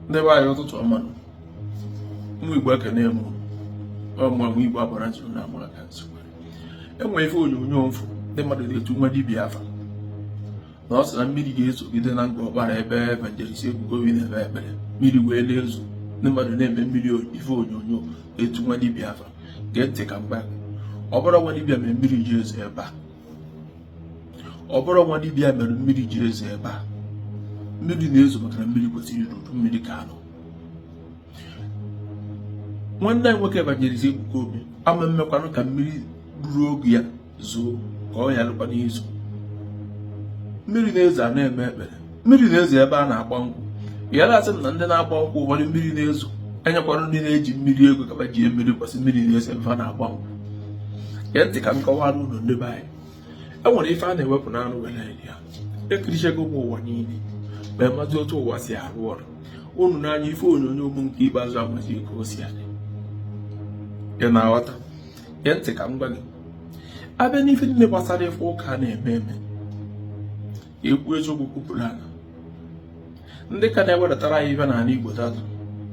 ndị be anyị ụtụtụ ọma ụmụ igbo ekene m unu ụmụ igbo agbara nzuru na amara ka nsogbu e nwe ife onyonyo m fụ ndị mmadụ na-etu nwa dibia afa na ọ sị na mmiri ga-ezogide na Ngor Okpala ebe evangelist Ebuka Obi na-eme ekpere mmiri wee na-ezo ndị mmadụ na-eme mmiri ife onyonyo etu nwa dibia afa gee ntị ka m gwa ọ bụrọ nwa dibia mere mmiri ji ezo ebe a ọ bụrọ nwa dibịa mere mmiri jiri ezo ebe a mmiri na-ezo maka na mmiri kwesịrị izo udu mmiri ka a nọ nwanne anyị nwoke evangelist Ebuka Obi ama mmekwanụ ka mmiri ruru oge ya zoo ka ọ yalụkwanụ izo mmiri na-ezo a na-eme ekpere mmiri na-ezo ebe a na-agba nkwụ ya na-asị m na ndị na-agba nkwụ ụfọdụ mmiri na-ezo e nyekwara ndị na-eji mmiri ego ka fa ji mmiri kwụsị mmiri na-ezo ebe a na-agba nkwụ gee ntị ka m kọwara unu ndị be anyị e nwere ife a na-ewepụ n'anụ were rie ya ekirichego m ụwa niile ma mazi otu ụwa si arụ ọrụ unu n'anya ife onyonyo ụmụ nke ikpeazụ amazi ka o si adị ị na-aghọta gee ntị ka m gwa gị a bịa n'ife niile gbasara ife ụka na-eme eme ekwu eziokwu kwupụrụ aka ndị ka na-ewedatara anyị ife n'ala Igbo tata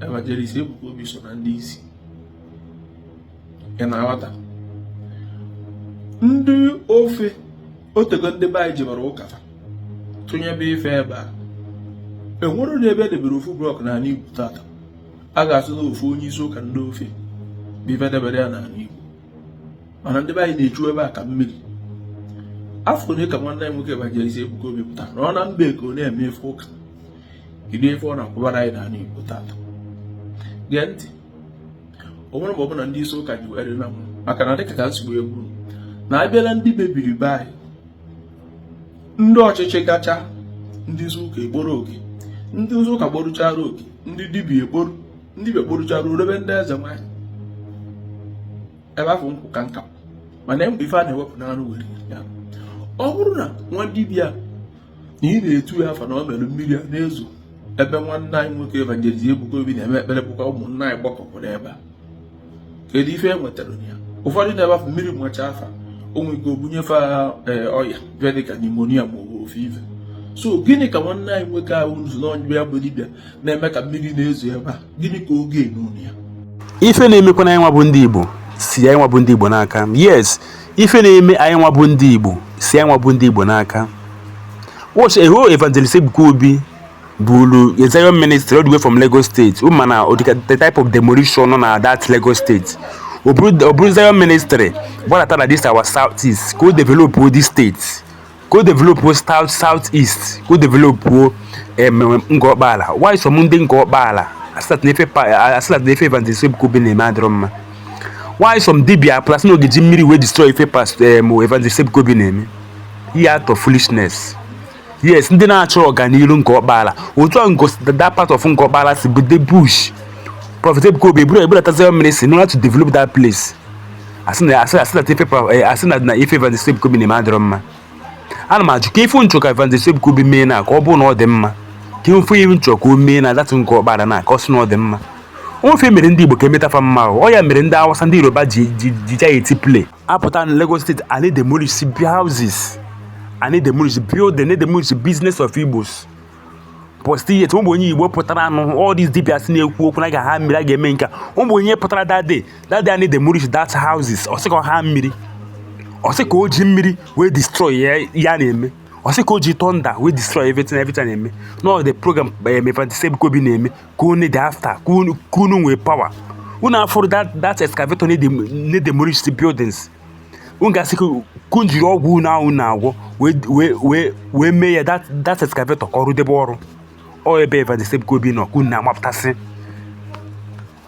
evangelist Ebuka Obi so na ndị isi ị na-aghọta ndị ofe o tego ndị be anyị jebara ụka tụnyebe ife ebe a e nwerọdụ ebe e debere ofu blọk n'ala Igbo tata a ga-asị na ofu onye isi ụka ndị ofe bụ ife debere ya n'ala Igbo mana ndị be anyị na-echu ebe a ka mmiri afọ ole ka nwanne anyị nwoke Evangelist Ebuka Obi pụtara na ọ nọ mba Eko na-eme ife ụka kedu ife ọ na-akwụbara anyị n'ala Igbo tata gee ntị o nwere mgbe ọbụla ndị isi ụka ji were na maka na dịka ka nsogbu egwu na abịala ndị mebiri be anyị ndị ọchịchị gacha ndị isi ụka ekporo oke ndị isi ụka kporuchara oke ndị dibia ekporo ndị dibịa kporuchara o rube ndị eze nwanyị ebe afụ nkwụ ka nka mana e nwe ife a na-ewepụ n'anụ were rie ya ọ bụrụ na nwa dibịa na ị na-etu ya afa na ọ mere mmiri a na-ezo ebe nwanne anyị nwoke evangelist Ebuka Obi na-eme ekpere bụkwa ụmụnna anyị gbakọpụrụ ebe a kedu ife e nwetara ya ụfọdụ nọ ebe afụ mmiri machaa fa o nwe ike o bunye fa eh, ọya bịa dịka nimonia ma ọ ofe ife so gịnị ka nwanne anyị nwoke ahụ nzu n'ọnyịbe ya bụ dibịa na-eme ka mmiri na-ezo ebe a gịnị ka ọ ga-enwe na ya ife na-emekwanụ anyị nwa bụ ndị Igbo si anyị nwa bụ ndị Igbo n'aka yes ife na-eme anyị nwa bụ ndị Igbo si anyị nwa bụ ndị Igbo n'aka watch eho evangelist Ebuka Obi buru a Zion ministry all the way from Lagos State unu ma na the type of demolition nọ na that Lagos State o buru Zion ministry gbadata na this our south east ka o develop this state ka o develop south south east ka o develop Ngor Okpala why some ndị Ngor Okpala asị na ife Evangelist Ebuka Obi na-eme adịrọ mma why some dibia plus na ọ ga-eji mmiri wee destroy ife past Evangelist Ebuka Obi na-eme ihe out of foolishness yes ndị na-achọ ọganiru Ngor Okpala otu a ngosi that part of Ngor Okpala si bụ the bush Prophet Ebuka Obi eburu ebulata Zion ministry in order to develop that place asị na asị asị na ife pra- eh, asị na na ife Evangelist Ebuka Obi na-eme adịrọ mma ana m ajụ ka ife unu chọ ka Evangelist Ebuka Obi mee na ka ọ bụrụ na ọ dị mma ka ife ihe unu chọ ka o mee na that Ngor Okpala na ka ọ sị na ọ dị mma o nwe ife e mere ndị Igbo ka e meta fa mma ọ ya mere ndị Awụsa ndị Yoruba ji ji ji ja eti play a pụta na Lagos State a na-edemolish houses a na-edemolish building demolish business of Igbos but still yet o nwerọ onye Igbo pụtara anụ all these dibias na-ekwu okwu na a ga-aha mmiri a ga-eme nka o nwerọ onye pụtara that day that day a na-edemolish that houses ọ sị ka ha mmiri ọ sị ka o ji mmiri wee destroy ya ya na-eme ọ sị ka o ji thunder wee destroy everything everything na-eme na the program Evangelist Ebuka Obi na-eme ka unu dị after ka unu nwee power unu afụrọ that excavator na-demolish the buildings unu ga-asị ka unu jiri ọgwụ unu ahụ na-agwọ wee mee ya that excavator ka ọ rụdebe ọrụ ọ ebe Evangelist Ebuka Obi nọ ka unu na-amapụtasị